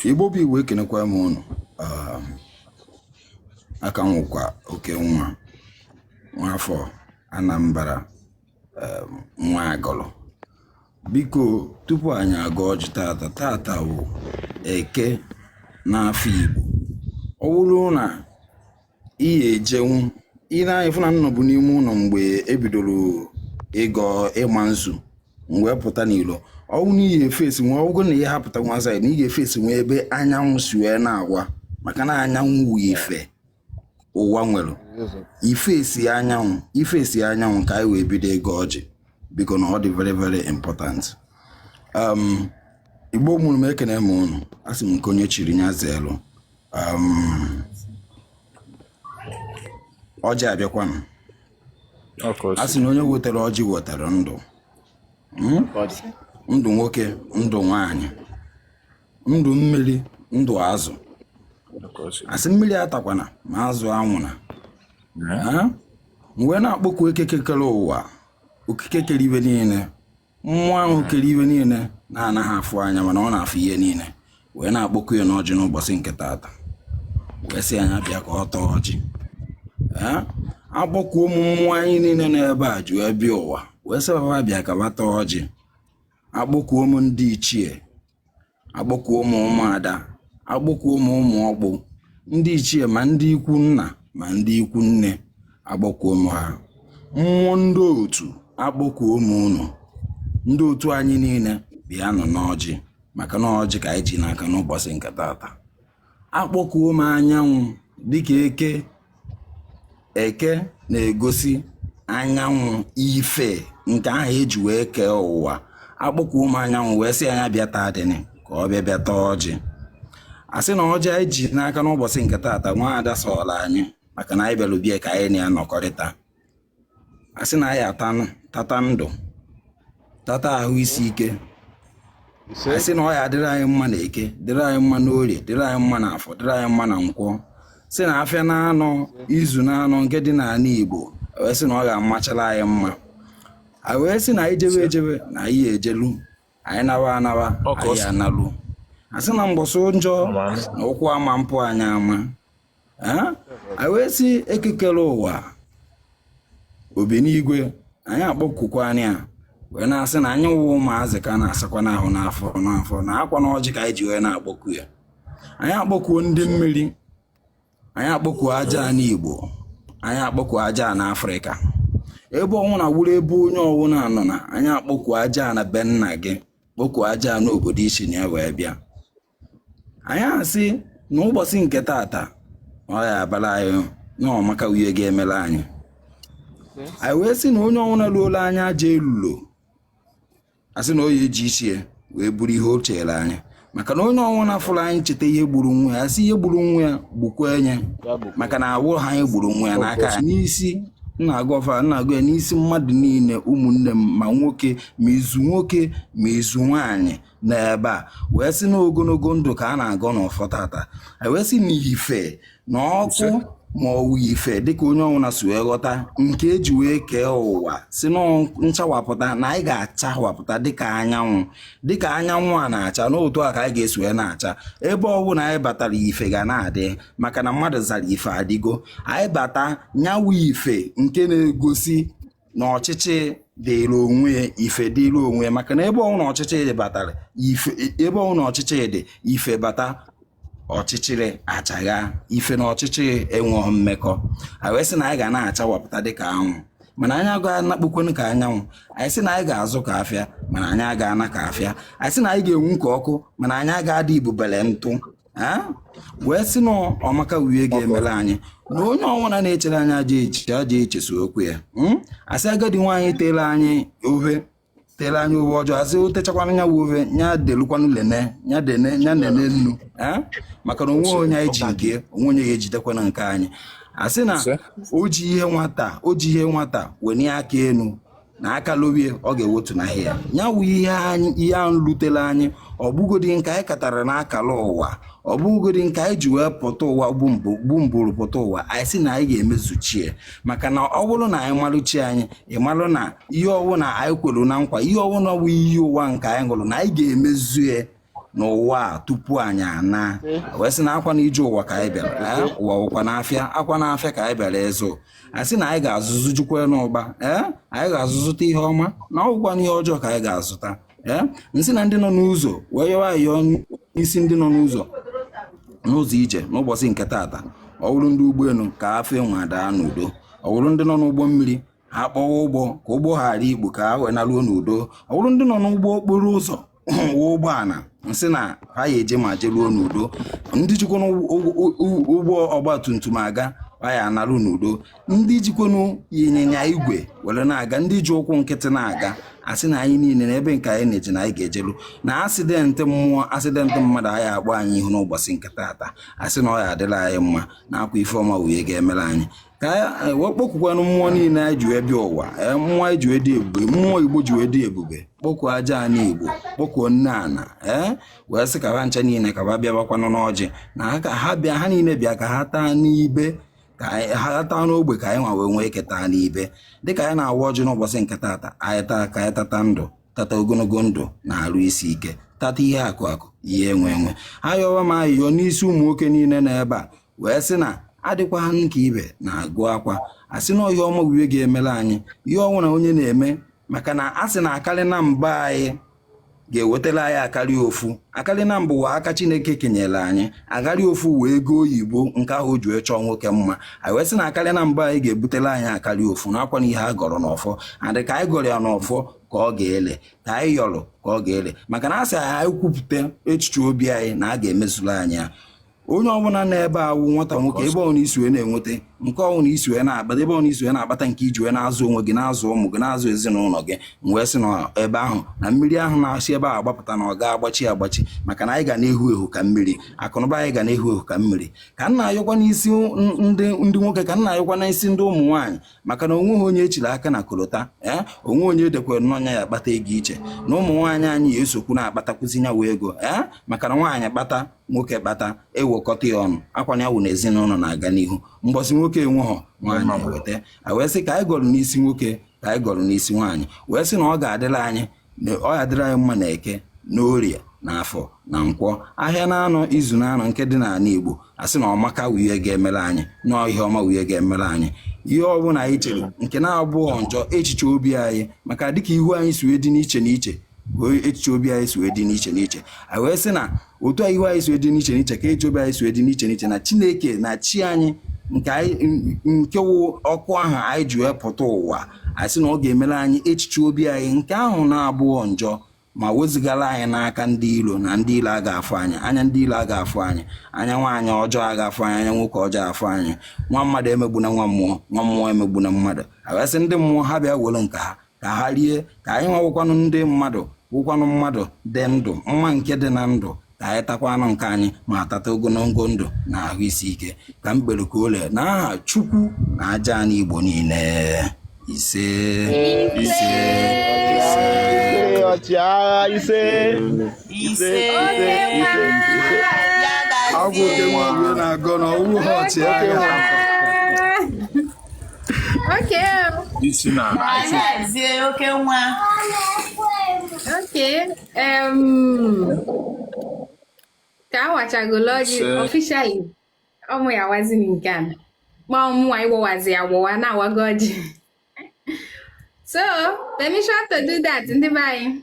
igbo bụ igbo ekenekwa m ụnụ um, aka m wụkwa okenwa nwafọ anambra um, nwa agụlụ biko tupu anyị agọọ ọjị tata tata bụ eke n'afịa igbo ọ bụrụ na ị ya-ejenwu ine anya fụ na m nọbu n'ime ụlọ mgbe ebidoro ịgọ ịma nzu m wee pụta n'ilo ọ wụ na ị ya-efesinwu ọ wụrụ na ị ya-apụtanwu outside na ị ya-efesinwu ebe anyanwụ si wee na-awa maka na anyanwụ wụ ife ụwa nwere ifesi anyanwụ ifesi anyanwụ ka anyị wee bido ịgọ ọjị biko na ọ dị very very important um, igbo mụrụ m ekene m ụnụ asị m nke onye chiri nya zeelụ Um, ọjị abịakwanụ a sị na onye wetara ọjị wetara ndụ hmm? ndụ nwoke ndụ nwanyị ndụ mmiri ndụ azụ asị mmiri atakwana ma azụ anwụna m wee na-akpọku ekeke kere ụwa okike kere ibe niile mmụọ ahụ kere ibe niile na-anaghị afụ anya mana ọ na-afụ ihe niile wee na-akpọku ya n'ọjị n'ụbọchị nke taata wee sị ya nya bịa ka ọ taa ọjị akpọkuo m mmụọ anyị niile n'ebe e ji wee bịa ụwa wee sị ba ba bịa ka ba taa ọjị akpọkuo m ndị ichie Akpọkuo m ụmụ ada, akpọkuo m ụmụ ọkpụ, ndị ichie ma ndị ikwu nna ma ndị ikwu nne, akpọkuo m ha. Mmụọ ndị otu, akpọkuo m unu. Ndị otu anyị niile bịanụ n'ọjị maka na ọjị ka anyị ji n'aka n'ụbọchị nke tata. akpọkuo m anyanwụ dịka eke eke na-egosi anyanwụ ife nke ahụ eji wee kee ụwa akpọkuo m anyanwụ wee sị ya nya bịa taa dịnị ka ọ bịa bịa taa ọjị asị na ọjị anyị ji n'aka n'ụbọchị nke taata nwaada sọọla anyị maka na anyị bịara abịa ka anyị na ya nọkọrịta a sị na anyị ataa tata ndụ tata ahụ isi ike a sị na ọ ya-adịrị anyị mma na eke dịrị anyị mma na orie dịrị anyị mma na afọ dịrị anyị mma na nkwọ sị na afịa na anọ izu na anọ nke dị n'anị igbo wee sị na ọ ya-amachara anyị mma a wee sị na anyị jewe ejewe na anyị ejelu anyị nawa anawa anyị analụ a sị na mbọsị njọ na ụkwụ ama mpụ anyị ama anyị wee sị eke kere ụwa obi n'igwe anyị akpọkukwa nya wee na-asị na anyị wụ ụmụazị ka na-asakwanụ ahụ n'afọ n'afọ na akwa na ọjị ka anyị ji wee na-akpọku ya anyị akpọkuo ndị mmiri anyị akpọkuo ajana igbo anyị akpọkuo ajana afrịka ebe ọwụna wụrụ ebe onye ọwụna nọ na anyị akpọkuo ajana be nna gị kpọkuo ajana obodo i si na ya wee bịa anyị asị na ụbọchị nke tata ọ ya abala anyị na ọmaka wụ ihe ga-emela anyị anyị wee sị na onye ọwụna luola anyị ajọ elulo a sị na ọ ya eji isi ya wee buru ihe o chere anyị maka na onye ọwụna fụrụ anyị cheta ihe gburu nwa ya a sị ihe gburu nwa ya gbukwa nye maka na a wụha anyị gburu nwa ya n'aka ya n'isi na-agọ ọfọ a na-agọ ya n'isi mmadụ niile ụmụnne m ma nwoke ma izu nwoke ma izu nwaanyị n'ebe a wee sị na ogologo ndụ ka a na-agọ n'ọfọ tata e wee sị na ife na ọkụ ma ọ wụ ife dịka onye ọwụna si wee ghọta nke e ji wee kee ụwa sị na nchawapụta na anyị ga-achawapụta dịka anyanwụ dịka anyanwụ a na-acha n'otu a ka anyị ga-esi wee na-acha ebe ọwụna anyị batara ife ga na-adị maka na mmadụ zara ife adịgo anyị bata nya wụ ife nke na-egosi na ọchịchị dịrị onwe ya ife dịrị onwe ya maka na ebe ọwụna ọchịchị dị batara ife ebe ọwụna ọchịchị dị ife bata ọchịchịrị achagha ife na ọchịchịrị enweghị mmekọ anyị wee sị na anyị ga na-achawapụta dịka anwụ mana anyị agaghị anakpukwanụ ka anyanwụ anyị sị na anyị ga-azụ ka afịa mana anyị agaghị ana ka afịa anyị sị na anyị ga-enwu ka ọkụ mana anyị agaghị adị ibubele ntụ ee wee sị na ọmaka wụ ihe ga-emere anyị na onye ọwụna na-echere anyị ajọ echiche ajọ eche sokwu ya Mm? a sị agadi nwaanyị tere anyị ohe tere anyị ohe ọjọọ a sị o techakwana nya wụ ohe nya delukwanụ lene nya dene nya nene nnu ee maka na o nwe onye anyị ji nke o nwe onye ga-ejidekwana nke anyị a sị na Ise. o ji ihe nwata o ji ihe nwata wenie aka enu na aka lowe ya ọ ga-ewotu na ahịa ya wụ ihe anyị ihe ahụ lutere anyị ọ bụgodi nke anyị katara n'akara ụwa ọ bụgodi nke anyị ji wee pụta ụwa bụ mbụrụ pụta ụwa anyị sị na anyị ga-emezuchie maka na ọ bụrụ na anyị malụ chi anyị ị malụ na ihe ọwụna anyị kwelu na nkwa ihe ọwụna wụ iyi ụwa nke anyị ṅụrụ na anyị ga-emezue n'ụwa a tupu anyị ana wee sị na akwa na ije ụwa ka anyị bịara ee ụwa wụkwanụ afịa akwa na afịa ka anyị bịara ịzụ a sị na anyị ga-azụzụ jukwa n'ụba ee anyị ga-azụzụta ihe ọma na ọ wụkwana ihe ọjọọ ka anyị ga-azụta ee nsị na ndị nọ n'ụzọ wee yọwa ayọ n'isi ndị nọ n'ụzọ n'ụzọ ije n'ụbọchị nke taata ọ bụrụ ndị ụgbọelu ka ha fe enu wee daa n'udo ọ bụrụ ndị nọ n'ụgbọ mmiri ha kpọwa ụgbọ ka ụgbọ ghara ikpu ka ha wee naruo n'udo ọ bụrụ ndị nọ n'ụgbọ okporo ụzọ wee ụgbọala nsị na ha ya eje ma jeruo n'udo ndị jikwa ụgbọ ọgba tum tum aga ha ya analụ n'udo ndị jikwanụ ịnyịnya igwe were na-aga ndị ji ụkwụ nkịtị na-aga asị na anyị niile na ebe nke anyị na-eje na anyị ga-ejelu na asidentị mmụọ asidentị mmadụ a ya akpọ anyị ihu n'ụbọchị nke taata asị na ọ ya adịla anyị mma na ọ kwa ife ọma wụ ihe ga-emere anyị ka anyị wee kpọkukwanụ mmụọ niile anyị ji wee bịa ụwa ee, mmụọ anyị ji wee dị ebube mmụọ igbo ji wee dị ebube kpọkuo aja anị igbo kpọkuo nne ana ee wee sị ka ha ncha niile ka ha bịabakwanụ n'ọjị na ha ka ha bịa ha niile bịa ka ha taa n'ibe ka anyị- ha taa n'ogbe ka anyị nwa wee nwee ike taa n'ibe dịka anyị na-awa ọjị n'ụbọchị nke taata anyị taa ka anyị tata ndụ tata ogologo ndụ na arụ isi ike tata ihe akụ akụ ihe enwe enwe ayọwa m ayịyọ n'isi ụmụ nwoke niile na ebe a wee sị na adịkwa ha nke ibe na-agụ akwa asị na ọ ihe ọma wụ ihe ga-emere anyị ihe ọwụna onye na-eme maka na a sị na akarị na mba anyị ga-ewetara anyị akarị ofu akarị na mbụ wụ aka chineke kenyere anyị akarị ofu wụ ego oyibo nke ahụ e ji wee chọọ nwoke mma anyị wee sị na akarị na mba anyị ga-ebutere anyị akarị ofu n'akwa na ihe a gọrọ n'ọfọ adị ka anyị gọrọ ya n'ọfọ ka ọ ga-ele ka anyị yọrọ ka ọ ga-ele maka na a sị anyị kwupụta echiche obi anyị na a ga-emezuru anyị ya onye ọbụla na ebe a wụ nwata nwoke ebe ọbụla i si wee na-enweta nke ọbụla i si wee na-akpata ebe ọbụla i si wee na-akpata nke i ji wee na-azụ onwe gị na-azụ ụmụ gị na-azụ ezinụlọ gị wee sị na ebe ahụ na mmiri ahụ na-esi ebe ahụ agbapụta na ọ ga-agbachi agbachi maka na anyị ga na-ehu ehu ka mmiri akụnụba anyị ga na-ehu ehu ka mmiri ka m na-ayọkwa n'isi ndị nwoke ka m na-ayọkwa n'isi ndị ụmụ nwaanyị maka na onweghị onye echiri aka na kolota ee eh? onwe onye e dekwere na ọ nya ya akpata ego iche na ụmụ nwaanyị anyị ya esokwu na-akpatakwụzi nya wụ ego ee eh? maka na nwaanyị kpata nwoke kpata ewekọta ya ọnụ ọ kwa nya wụ na ezinụlọ na-aga n'ihu mbọsị nwoke enweghọ nwaanyị eweta a wee sị ka anyị gọrọ n'isi nwoke ka anyị gọrọ n'isi nwaanyị wee sị na ọ ga-adịla anyị ọ ga-adịrị anyị mma na eke na orie na afọ na nkwọ ahịa na anọ izu na anọ nke dị n'ala igbo asị na ọmaka wụ ihe ga-emere anyị na ihe ọma wụ ihe ga-emere anyị ihe ọbụla anyị chere nke na-abụghọ njọ echiche obi anyị maka dịka ihu anyị si wee dị n'iche n'iche echiche obi anyị si wee dị n'iche n'iche anyị wee sị na otu a ihu anyị si wee dị n'iche n'iche ka echiche obi anyị si wee dị n'iche n'iche na chineke na chi anyị nke anyị nke wụ ọkụ ahụ anyị ji wee pụta ụwa anyị sị na ọ ga-emere anyị echiche obi anyị nke ahụ na-abụghọ njọ ma wezugara anyị n'aka ndị ilo na ndị ilo a ga-afụ anyị anya ndị ilo a ga-afụ anyị anya nwaanyị ọjọọ a ga-afụ anyị anya nwoke ọjọọ afụ anyị nwa mmadụ emegbuna nwa mmụọ nwa mmụọ emegbuna mmadụ a wee sị ndị mmụọ ha bịa were nke ha ka ha rie ka anyị nwa wụkwanụ ndị mmadụ wụkwanụ mmadụ dị ndụ mma nke dị na ndụ ka anyị takwanụ nke anyị ma tata ogologo ndụ na ahụ isi ike ka m kpere ka o lee na aha chukwu na aja anị igbo niile ise ise ise ọchịagha ise ise ise ise ise agwụ oke nwa na-agọ na ọwụ ha ọchịagha Okay. Ị sị na oke nwa. Okay. Um. Ka a wachagola ọjị officially. Ọ mụ ya-awazi nke a. Ma ọ mụnwa ịgbawazi ya agbawa na awago ọjị. So, permission to do that ndị be anyị.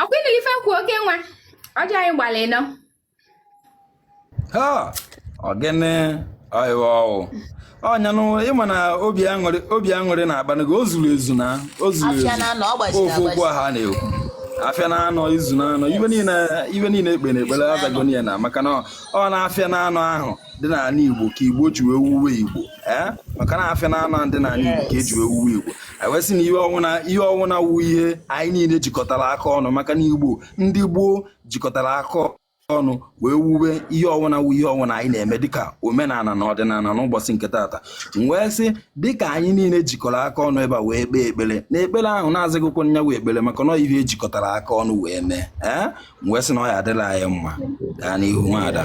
ọkwa ịnụrụ ife kwuo oke nwa ọjọ anyị gbalị nọ ha ọ gịnị ọịwa ọwụ ọnya nụ ị ma na obi aṅụrị obi aṅụrị na-akpanụ gị o zuru ezu na o zuru ezu Afịa na anọ, ọ gbajiri ofu okwu agbaji. ha na-ekwu afịa na anọ izu na anọ ife niile ife niile e kpe na ekpere azagoni ya na maka na ọ na afịa na anọ ahụ dị n'ala igbo ka igbo ji wee wuwe igbo ee maka na afịa na anọ dị n'ala igbo ka eji wee wuwe igbo e wee sị na ihe ọwụna ihe ọwụna wu ihe anyị niile jikọtara aka ọnụ maka na igbo ndị gboo jikọtara aka ọnụ wee wuwe ihe ọwụna wu ihe ọwụna anyị na-eme dịka omenala na ọdịnala n'ụbọchị nke taata wee sị dịka anyị niile jikọrọ aka ọnụ ebe a wee kpee ekpere na ekpere ahụ na-azịghịkwa nya nwe ekpere maka na ihe ejikọtara aka ọnụ wee mee ee wee sị na ọ ya adịla anyị mma gaa n'ihu nwaada